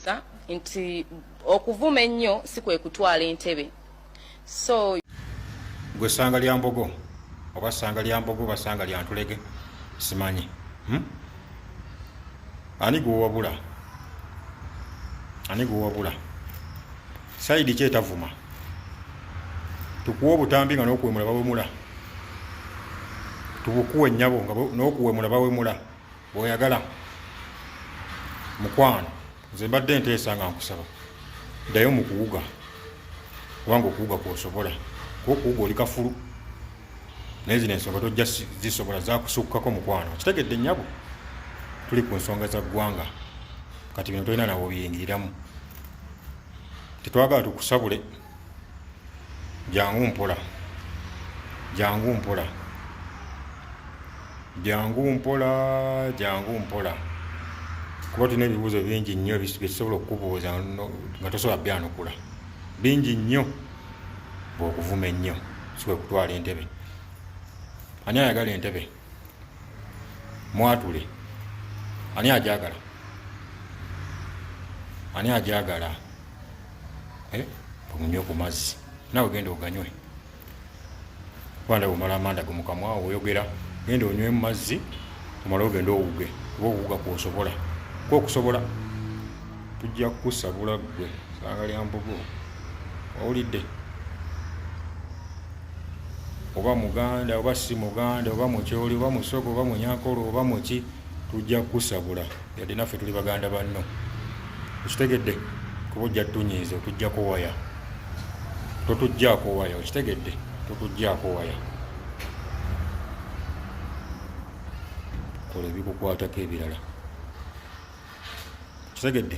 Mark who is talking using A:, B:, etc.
A: Sa nti okuvuma ennyo si kwe kutwala entebe so
B: gwe sanga lya mbogo oba sanga lya mbogo oba sanga lya ntulege simanyi hmm? ani gwewabula ani gwewabula saidi ki etavuma tukuwa obutambi nga nokuwemula bawemula tubukuwa ennyabo nga nokuwemula bawemula bwoyagala mukwano nze mbadde nteesa nga nkusaba ddayo mu kuwuga kubanga okuwuga kwosobola kuba okuwuga oli kafulu naye zino ensonga tojja zisobola zakusukkako mukwano kitegedde nyabo tuli ku nsonga za ggwanga kati bino tolina nawe obiyingiriramu tetwagala tukusabule jangu mpola jangu mpola jangu mpola jangu mpola kuba tulina ebibuuzo bingi nnyo byetusobola okukubuuza nga tosobola byanukula bingi nnyo bwokuvuma ennyo sikwekutwala entebe ani ayagala entebe mwatule ani ajagala ani ajagala eh, omunywe ku mazzi nawe genda oganywe kubanda bwomala amanda gumukamwa oyogera genda onywe mu mazzi omala ogenda owuge oba owuga kwosobola kwokusobola tujja kukusabula gwe sanga lyambugo owulidde oba muganda oba si muganda oba mukyoli oba musogo oba munyankolo oba muki tujja kukusabula yadde naffe tuli baganda banno okitegedde kuba ojja tunyiiza otujjako waya totujjako waya okitegedde totujjako waya kola ebikukwatako ebirala okitegedde